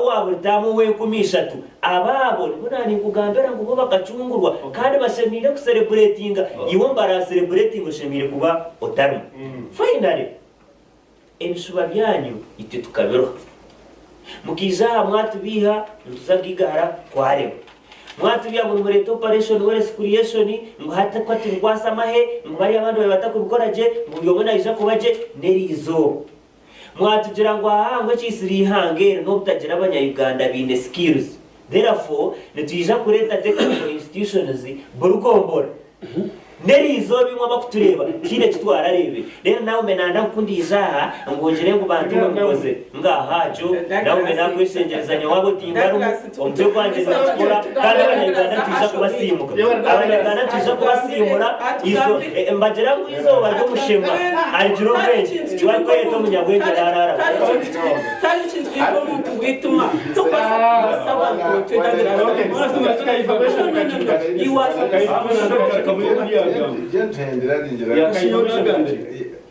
Owa buri taama ow'enkumi ishatu. Abo abo nibo naaninkugambira ngu bo bakacungurwa kandi bashemeire kusereburetinga, iwe ombaraasereburetinga oshemeire kuba otarimu. Finally, ebishuba byanyu itwe tukabiruha. Mukaija aha mwatubeiha nituza kugaiga hara kwarema. Mwatubeiha ngu nimureeta operation wealth creation, ngu hati ku hati bikwasa amahe, ngu bariya abandi babaire batakubikora gye, ngu buri omwe naija kuba gye n'erizooba. Mwatugira ngu ahaa ngu ekiisira eihanga eri n'obutagira abanya Uganda baine skills therefore nitwija kureeta technical institutions buri gombora. N'erizooba imwe abakutureeba tihaine eki twarareebire. Reero naawe me nanda nkundije aha ngu ngire ngu bantu mwe mukozire. Ngaaha jo naawe me nakweshengyereza nyowe abo timbarimu. Omutwe gwangye ninakikora kandi abanyarwanda nitwija kubasiimuka. Abanyarwanda nitwija kubasiimura izo e, mbagira ngu izooba ry'omushema arigira obwengye iwe arikweyeta omunyabwengye araaraara butoosha.